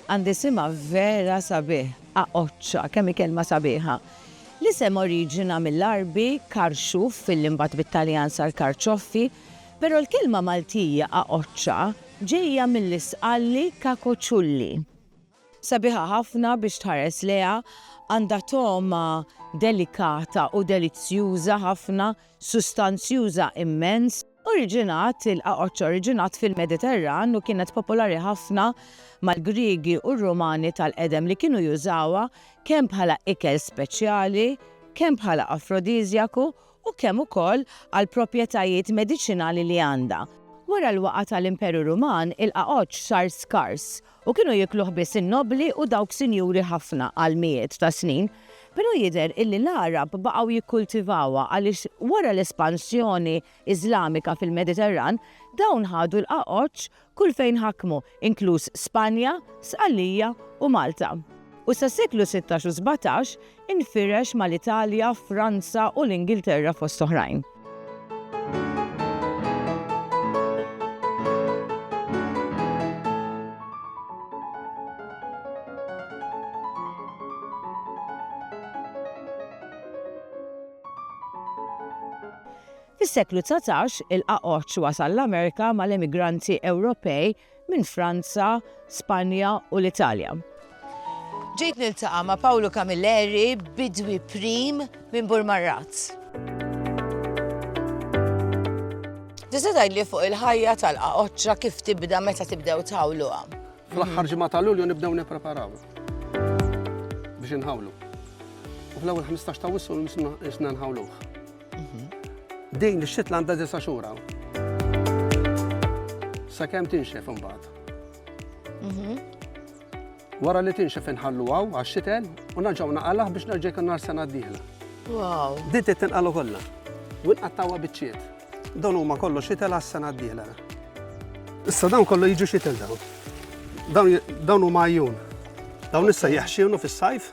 Għandi simha vera sabiħ, aqoċċa, kemm hi kelma sabiħa. L-isem oriġina mill-Għarbi karxuf fil li mbagħad bit-Taljan sar karċoffi, però l-kelma Maltija aqoċċa ġejja mill-Isqalli cacoculli. Sabiħa ħafna biex tħares lejha, għandha togħma delikata u delizzjuża ħafna, sustanzjuża immens. Oriġinat, il-qaqoċċ oriġinat fil-Mediterran u kienet popolari ħafna mal-Griegi u r-Rumani tal-qedem li kienu jużawha kemm bħala ikel speċjali, kemm bħala afrodiżjaku u kemm ukoll għall-proprjetajiet mediċinali li għandha. Wara l-waqgħa tal-Imperu Ruman, il-qagħodx sar skars u kienu jiekluh biss in-nobbli u dawk sinjuri ħafna għal mijiet ta' snin. Però jidher illi l-Għarab baqgħu jikkultivawha għaliex wara l-espansjoni Iżlamika fil-Mediterran, dawn ħadu l-qagħodx kull fejn ħakmu, inkluż Spanja, Sqallija u Malta, u sas-seklu sittax u sbatax infirex mal-Italja, Franza u l-Ingilterra fost oħrajn. Fis-seklu dsatax, il-qagħoġ wasal l-Amerika mal-emigranti Ewropej minn Franza, Spanja u l-Italja. Ġejt niltaqa' ma' Pawlu Camilleri, bidwi prim minn Burmarraz. Tista' tgħidli fuq il-ħajja tal-qagħoġġa kif tibda meta tibdew tħawluha? Fl-aħħar ġimgħa ta' Lulju nibdew nippreparaw biex inħawlu. U fl-ewwel 15 ta' Wissu nisna nħawluh. Mhm. Din ix-xitla għandha disa' xhur hawn. Sakemm tinxef imbagħad. Mhm. Wara li tinxef inħallu għaw għax-xitel u naġgħu naqalgħ biex nerġa' jkun nar sena d-dieħla. Wow. Din tinqalu kollha. U nqattawha biċċiet. Dawn huma kollu xitel għas-sena d-dieħla. Issa dawn kollu jiġu xitel dawn. Dawn huma għajjun. Dawn issa jaħxinu fis-sajf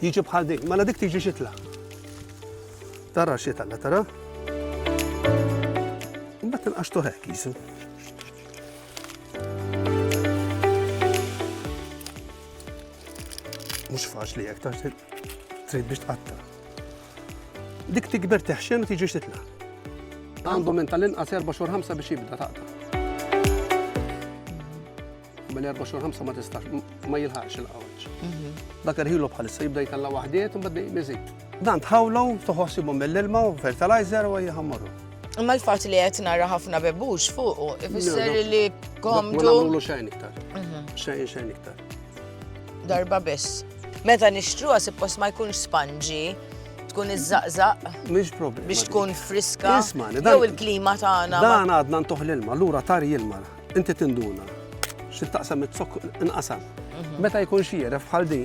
Jiġi bħal din, mela dik tiġi xitla. Tara xitla, tara? Imbagħad tinqaxtu hekk jisu. Mhux faċli hekk tax trid biex tqatta. Dik tikber teħxen u tiġi xitla. Għandu minn tal-inqas 4 xhur 5 biex jibda taqta'. Minn 24 5 ma tistax, ma jilħaqx il-qawċ. Mhm. Dak irħilu bħalissa jibda jitalla waħdiet u bad miżid. Dan tħawlu, toħossibu mill-ilma u fertilizer u jħammaru. Imma l-fat li qed nara ħafna bebux fuqu, ifisser li komdu. Ma nagħmlu xejn iktar. Mhm. Xejn xejn iktar. Darba biss. Meta nixtruha suppost ma jkunx spanġi, tkun iż-żaqżaq. Mhix problema. Biex tkun friska. Jew il-klima tagħna. Dan għadna ntuħ l-ilma, lura tar jilma. Inti tinduna xi taqsam it-zokk inqasam. Mhm. Meta jkun xieref bħal di,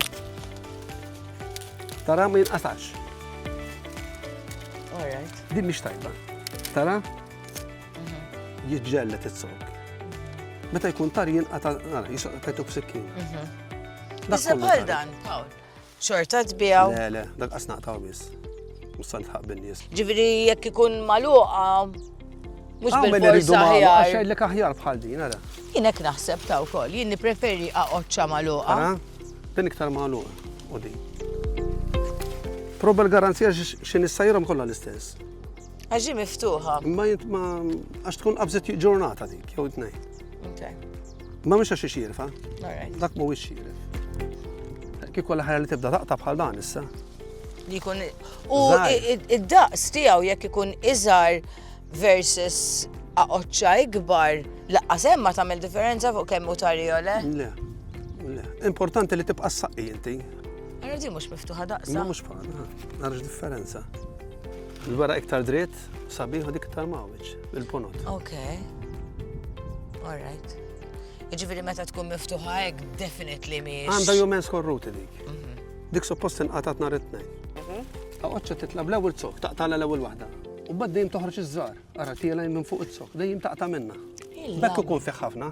tara ma jinqasax. Di mhix tajba. Tara? Mhm. Jiġġellet it-zokk. Meta jkun tar jinqata' jisqqa tajtu b'sikkin. Mhm. Bħal dan, Paul. Xorta tbijaw? Le, le, dak qas naqtaw biss. Mussan tħaq bin-nies. Ġifieri jekk ikun magħluqa mhux ah, bil-forsa aħjar. Għax jgħidlek aħjar bħal din, ara. Jien hekk naħseb ta' wkoll, jien nippreferi aqgħodxa magħluqa. Din iktar magħluqa u din. Proba l-garanzija x'in issajrhom kollha l-istess. Għax ġi miftuħa. Ma jint ma għax tkun qabżet ġurnata dik, jew tnejn. Ma mhux għax xirfa. Dak mhuwiex xirf. Kieku l-ħajja li tibda taqta' bħal dan issa. Li jkun u id-daqs tiegħu jekk ikun iżgħar versus aqoċċa ikbar, laqqas hemm ma tagħmel differenza fuq kemm hu tarjole. Le. Importanti li tibqa' s-saqqi inti. Għarra di mhux miftuħa daqsa. Mhux bħal, għarrax differenza. Il-wara iktar dritt, sabiħ u dik iktar mawġ, il-ponot. Ok. All right. Iġifieri meta tkun miftuħa hekk definitely miex. Għandha jumen skorruti dik. Mhm. Dik suppost inqatat nhar it-tnejn. Għoċċa mhm. titla bl-ewwel zok, taqtala l-ewwel waħda. U bad dejjem toħroġ iż-żar, ara tiela minn fuq iz-zok, dejjem taqta' minna. Bekk ikun fih ħafna.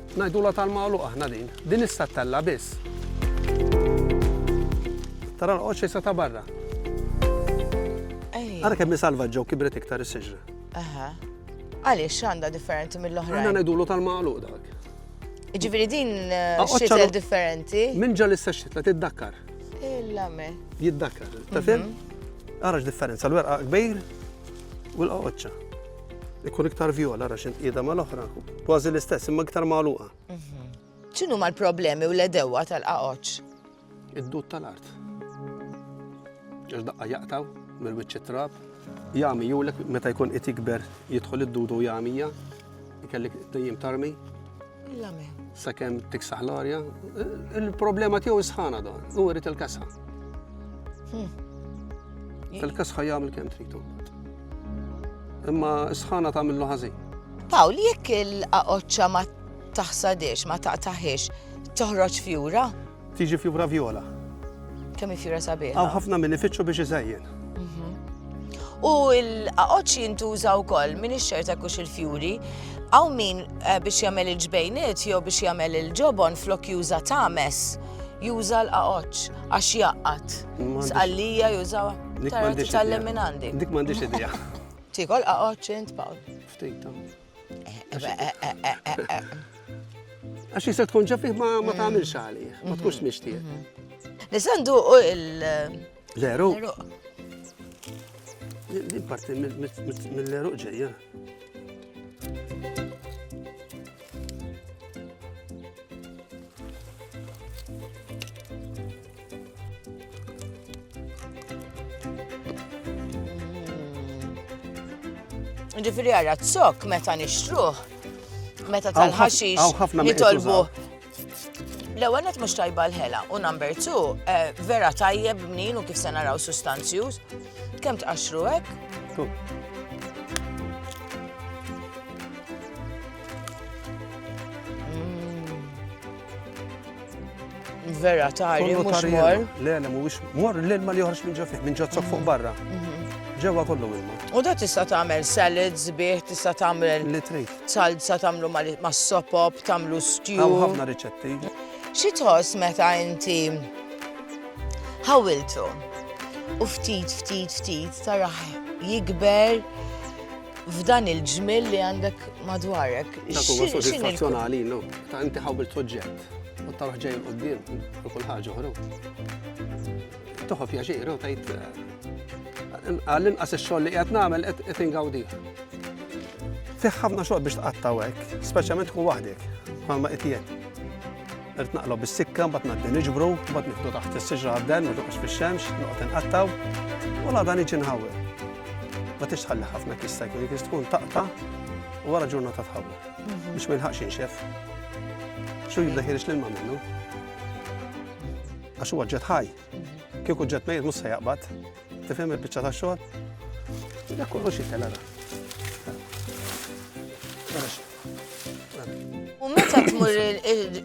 Ngħidulha tal-magħluq aħna din. Din issa ttella' biss. Tara l-qoċċ issa ta' barra. Ara kemm hi salvaġġa u kibret iktar is-siġra. Aha. Għaliex x'għandha differenti mill-oħra? Aħna ngħidulu tal-magħluq dak. Ġifieri din eh, xitel differenti. Minn ġal issa xitla tiddakkar. Illa me. Jiddakkar, ta' fim? Mhm. Ara x'differenza l-werqa kbir u l-qoċċa. Ikun iktar vjola ra xint qiegħda mal-oħra. Kważi l-istess, imma iktar magħluqa. Mhm. X'inhu mal-problemi u l-edewa tal-qaqoċ? Id-dud tal-art. Ġax daqqa jaqtaw mill-wiċċ trab. Jami julek meta jkun qed jikber jidħol id-dudu jamija, ikellik dejjem tarmi. L-amen. Sakemm tiksaħ l-arja, il-problema tiegħu sħana dan, u rrit il-kasħa. Hmm. Il-kasħa jagħmel kemm tritu. Imma sħana tagħmillu ħażin. Pawl, jekk il-qaqoċċa ma taħsadiex, ma taqtaħiex, toħroġ fjura? Tiġi fjura vjola. Kemm fjura sabiħ. Għaw ħafna minn ifittxu biex iżajjen. Mhm. U l-qaqoċ jintuża wkoll minn ix-xerta kux il-fjuri. Għaw min eh, biex jagħmel il-ġbejniet jew biex jagħmel il-ġobon flok juża tames juża l-qaqoċ għax jaqqat. Sqallija juża tal-leminandi. Dik m'għandix idea. Tikol qaqoċ int Paul. Ftit. Għax jista tkun ġafih ma mm. tagħmilx għalih, ma tkunx mm-hmm. mixtieq. Mm-hmm. Nisandu u il- Leru. Din parti mill-leru ġejja. Ġifiri għarra t-sok meta nixtruħ, meta tal-ħaxix nitolbu. L-ewwel qed mhux tajba l-ħela u number two eh, vera tajjeb mnin u kif se naraw sustanzjuż. Kemm tqaxxru hekk? Vera tari, mhux mor. Le, le, mhuwiex mor l-ilma li joħroġ minn ġo fih, minn ġozzok fuq barra. Mhm. Ġewwa kollu ilma. U da tista' tagħmel salads bih, tista' tagħmel li trid. Salsa tagħmlu mas-sopop, tagħmlu stew. Hawn ħafna riċetti. Xi tħoss meta inti ħawiltu u ftit ftit ftit taraħ jikber f'dan il-ġmil li għandek madwarek. Dak huwa soddisfazzjonali, no? Ta' inti ħawil soġġett. U taruħ ġej l-qoddim, u kull ħaġa uħru. Toħof jaġir, u tajt. Għall-inqas il-xogħol li qed nagħmel qed ingawdi. Fiħ ħafna xogħol biex tqattaw hekk, speċjalment tkun waħdek, bħalma qed jien. Irt naqlob bis-sikka, mbagħad ngħaddi niġbru, mbagħad nieħdu taħt is-siġra għadden, ma toqgħodx fix-xemx, noqgħod inqattaw, u la dan iġi nħawwel. Ma tixtħalli ħafna kista jkun jkun tkun taqta' u wara ġurnata tħawwel. Biex ma jilħaqx inxef. Xu jibda ħirix l-ilma minnu. Għax huwa ġet ħaj. Kieku ġet mejr mhux se jaqbad. Tifhem il-biċċa ta' xogħol? Dak kollox jitela. U meta tmur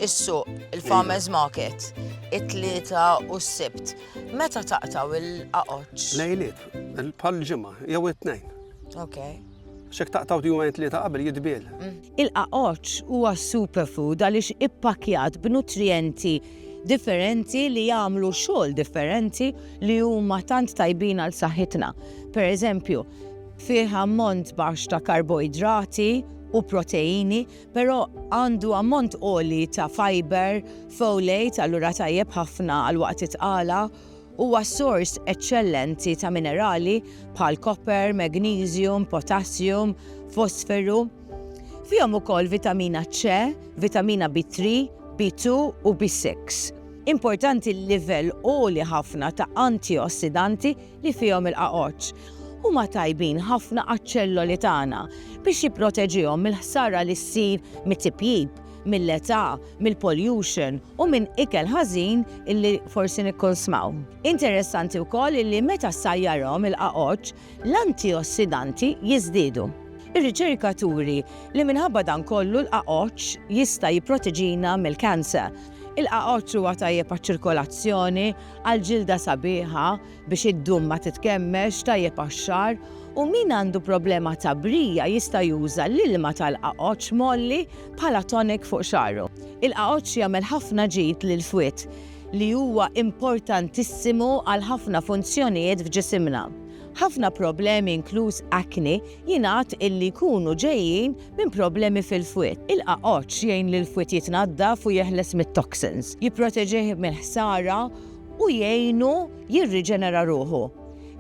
is-suq, il-farmers market, it-tlieta u s-sibt, meta taqtaw il-qaqoċ? Lejliet, il-pal ġimma, jew it-tnejn. Okay. Xek taqtaw jumejn tlieta qabel jitbiel. Il-qaqoċ huwa superfood għaliex ippakjat b'nutrijenti differenti li jagħmlu xogħol differenti li huma tant tajbin għal saħħitna. Per eżempju, fih ammont baxx ta' karboidrati u proteini, però għandu ammont oli ta' fiber, folate, allura tajjeb ħafna għal waqt itqala Huwa sors eċċellenti ta' minerali bħal koper, magniżjum, potassium, fosferu. Fihom ukoll vitamina C, vitamina B3, B2 u B6. Importanti l-livell għoli ħafna ta' antiossidanti li fihom il-qagħoġ. Huma tajbin ħafna għaċ-ċelloli tagħna biex jipproteġihom mill-ħsara li ssir mit-tipjip. mill-età, mill-pollution u minn ikel ħażin illi forsi nikkonsmaw. Interessanti wkoll illi meta ssajjarhom il-qagħoġ, l-antiossidanti jiżdiedu. Ir-riċerka turi li minħabba dan kollu l-qagħoġ jista' jipproteġina mill-cancer. Il-qagħoġ huwa tajjeb għaċ-ċirkolazzjoni, għall-ġilda sabiħa, biex id-dum ma titkemmelx, tajjeb għax-xagħar, u min għandu problema ta' brija jista' juża l-ilma tal-qagħoġġ mgħolli bħala tonic fuq xagħru. Il-qagħoġġ jagħmel ħafna ġid lill-fwied, li huwa importantissimu għal ħafna funzjonijiet f'ġisimna. Ħafna problemi inkluż acne jingħad illi jkunu ġejjin minn problemi fil-fwied. Il-qagħoġġ jgħin lill-fwied jitnaddaf u jeħles mit-toxins, jipproteġih mill-ħsara, u jgħinu jirriġenera ruħu.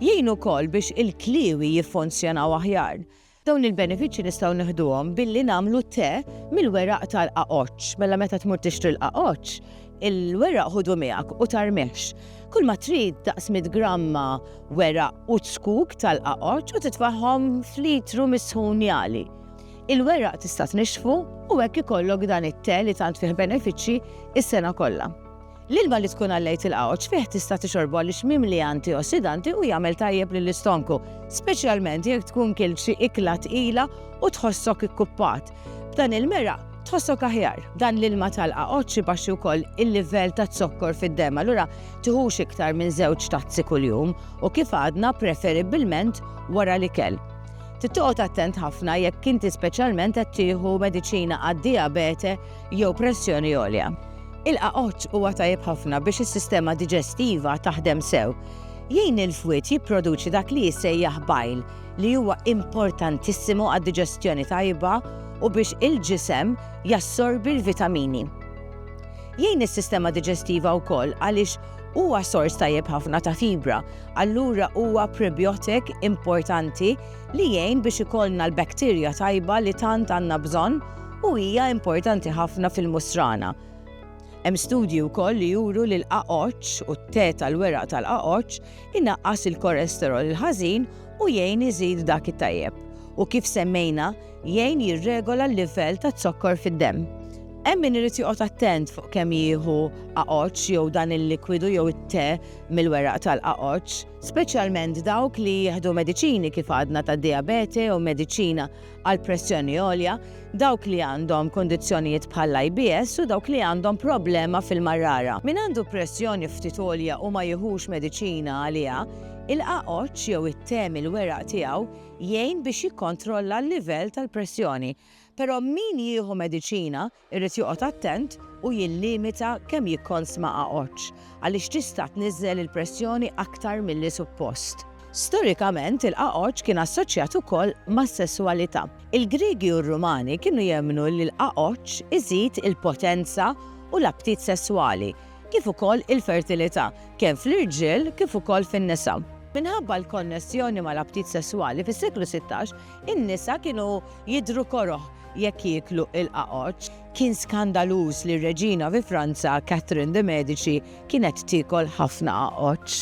Jgħin ukoll biex il-kliewi jiffunzjonaw aħjar. Dawn il-benefiċċji nistgħu nieħduhom billi nagħmlu te mill-weraq tal-qagħoġġ. Mela meta tmur tixtri l-qagħoġġ, il-weraq ħudu miegħek u tarmihx. Kulma trid daqs mitt gramma weraq u ċkuk tal-qagħoġġ u titfagħhom f'litru misħun jagħli. Il-weraq tista' tnixxfu u hekk ikollok dan it-te li tant fih benefiċċji s-sena kollha. L-ilma li tkun għallejt il-qawċ fih tista' tixorbu għaliex mimli antiossidanti u jagħmel tajjeb lill-istonku, speċjalment jekk tkun kilt xi ikla tqila u tħossok ikkuppat. B'dan il-meraq, tħossok aħjar. Dan l-ilma tal-qawċ ibaxxi wkoll il-livell taz-zokkor fid-demm, allura tiħux iktar minn żewġ tazzi kuljum u kif għadna preferibbilment wara l-ikel. Trid toqgħod attent ħafna jekk inti speċjalment qed tieħu mediċina għad-dijabete jew pressjoni għolja. Il-qaqoċ huwa tajjeb ħafna biex is-sistema diġestiva taħdem sew. Jgħin il-fwied jipproduċi dak li jissejjaħ bajl li huwa importantissimu għad-diġestjoni tajba u biex il-ġisem jassorbi l-vitamini. Jgħin is-sistema diġestiva wkoll għaliex huwa sors tajjeb ħafna ta' fibra, allura huwa prebiotik importanti li jgħin biex ikollna l-bakterja tajba li tant għandna bżonn u hija importanti ħafna fil-musrana. Hemm studji wkoll li juru li l-qaqoċ u t-te tal-weraq tal-qaqoċ inaqqas il-kolesterol il-ħażin u jgħin iżid dak it-tajjeb. U kif semmejna, jgħin jirregola l-livell ta' zokkor fid-demm. Hemm min irid joqgħod attent fuq kemm jieħu aqoċ jew dan il-likwidu jew it-te mill-weraq tal-aqoċ, speċjalment dawk li jieħdu mediċini kif għadna ta' diabete jew mediċina għal pressjoni għolja, dawk li għandhom kundizzjonijiet bħall-IBS u dawk li għandhom problema fil-marrara. Min għandu pressjoni ftit għolja u ma jiħux mediċina għaliha, il-qagħoġġ jew it-te mill-weraq tiegħu jgħin biex jikkontrolla l-livell tal-pressjoni. Però min jieħu mediċina Irid joqgħod attent u jillimita kemm jikkonsma għaġġ għaliex tista' tniżżel il-pressjoni aktar milli suppost. Storikament, il-għaġġ kien assoċjat ukoll mas-sesswalità. Il-Griegi u r-Rumani kienu jemmnu li l-għaġġ iżid il-potenza u l-aptit sesswali, kif ukoll il-fertilità, kemm fl-irġiel kif ukoll fin-nisa. Minħabba l-konnessjoni mal-aptit sesswali, fis-seklu sittax, In-nisa kienu jidhru koroh jekk jieklu l-qagħoġ. Kien skandaluż li r-reġina fi Franza, Catherine de Medici, kienet tiekol ħafna qagħoġ.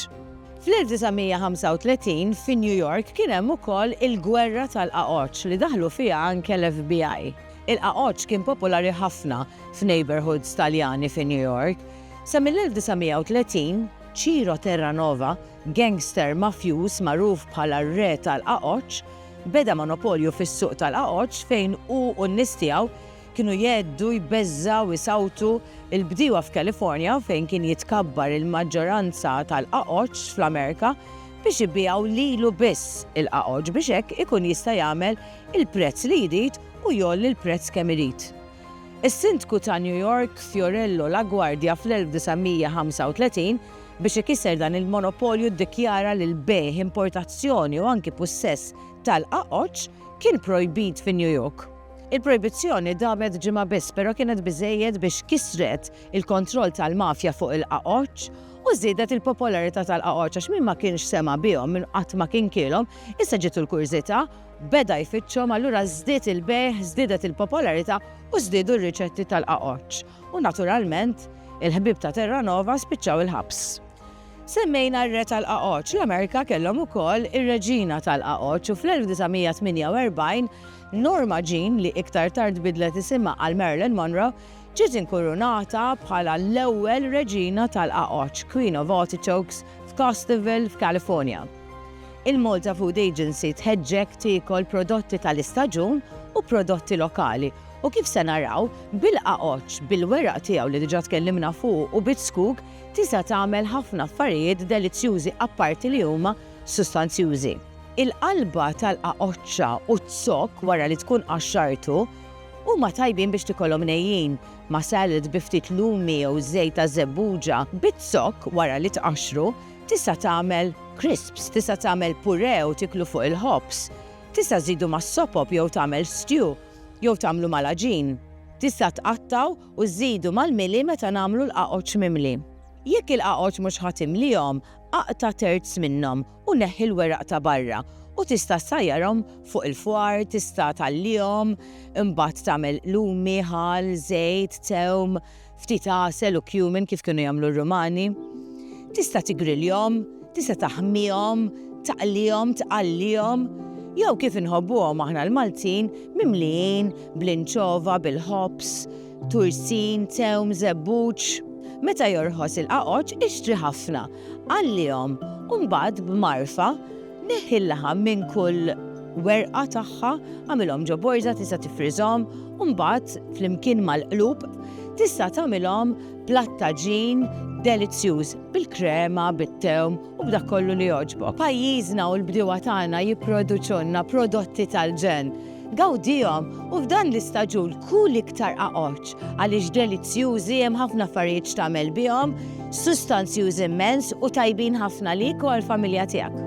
Fl-1935, fi New York kien hemm ukoll il-gwerra tal-qagħoġ li daħlu fiha anke l-FBI. Il-qagħoġ kien popolari ħafna f'neighborhoods Taljani fi New York. Sa mill-1930, Ciro Terranova, Gangster mafjuż magħruf bħala r-Re tal-Qagħoġ beda monopolju fis-suq tal-Qagħoġ fejn hu u n-nies tiegħu kienu jgħeddu, jbeżżgħu, isawtu l-bdiewa f'California fejn kien jitkabbar il-maġġoranza tal-Qagħoġ fl-Amerika biex ibigħu lilu biss il-Qagħoġ biex hekk ikun jista' jagħmel il-prezz li jrid u jgħolli l-prezz kemm irid. Is-Sindku ta' New York Fiorello LaGuardia fl-1935 Biex ikisser dan il-monopolju ddikjara li l-bejgħ, importazzjoni u anki pussess tal-qaqoċ kien projbit fi New York. Il-projbizzjoni damet ġimgħa biss però kienet biżżejjed biex kissret il-kontroll tal-mafja fuq il-qaqoċ u żiedet il-popolarità tal-qaqoċ għax min ma kienx sema' bihom, min qatt ma kien kielhom, issa ġietu l-kurżità, beda jfittxhom allura żdied il-bejgħ, żdiedet il-popolarità u żdiedu r-riċetti tal-qaqoċ. U naturalment, il-ħbieb ta' Terranova spiċċaw il-ħabs. Semmejna r-Re tal-Qagħoġ, l-Amerika kellhom ukoll ir-Reġina tal-Qagħoġ u fl-1948, Norma Jean, li iktar tard bidlet isimha għal Marilyn Monroe, ġiet inkurunata bħala l-ewwel Reġina tal-Qagħoġ, Queen of Artichokes, f'Costerville, f'California. Il-Malta Food Agency tħeġġek tiekol prodotti tal-istaġun u prodotti lokali U kif se naraw, bil-qagħodx, bil-weraq tiegħu li diġà tkellimna fuqu u biż-żkug, tisa' tagħmel ħafna affarijiet delizzjużi apparti li huma sustanzjużi. Il-qalba tal-qagħodxa u z-zokk wara li tkun qaxxartu huma tajbin biex tikolhom nejjin, ma' salad bi ftit lumi jew żejt ta' żebbuġa. Biz-zokk wara li tqaxxru, tisa' tagħmel crisps, tisa' tagħmel puree u tieklu fuq il-ħobż. Tisa' żżidu mas-sopop jew tagħmel stew. Jew tagħmlu mal-għaġin. Tista' tqattgħu u żżidu mal-mili meta nagħmlu l-qagħoġ mimli. Jekk il-qagħoġ mhux ħa timlihom, aqta' terz minnhom u neħħi l-weraq ta' barra u tista' ssajjarhom fuq il-fwar, tista' tgħallihom, imbagħad tagħmel lumi, ħall, żejt, tewm, ftit għasel u cumin kif kienu jagħmlu r-Rumani. Tista' tigriljhom, tista' taħmihom, taqlihom, tqallihom, jew kif inħobbuhom aħna l-Maltin, mimlijin bl-inċova, bil-ħobż, tursin, tewm, żebbuġ. Meta jorħos il-qaqoċ, ixtri ħafna, Għallihom, u mbagħad b'magħrfa neħħi l-laħam minn kull werqa tagħha, agħmilhom ġo borża tista' tifriżhom u mbagħad flimkien mal-qlub tista' tagħmilhom platt ta' ġin delizzjuż bil-krema, bit-tewm u b'dak kollu li jogħġbok. Pajjiżna u l-bdiewa tagħna jipproduċulna prodotti tal-ġenn. Gawdihom u f'dan l-istaġun kul iktar qaqoċ għaliex delizzjużi, hemm ħafna affarijiet x'tagħmel bihom, sustanzjużi immens u tajbin ħafna għalik u għall-familja tiegħek.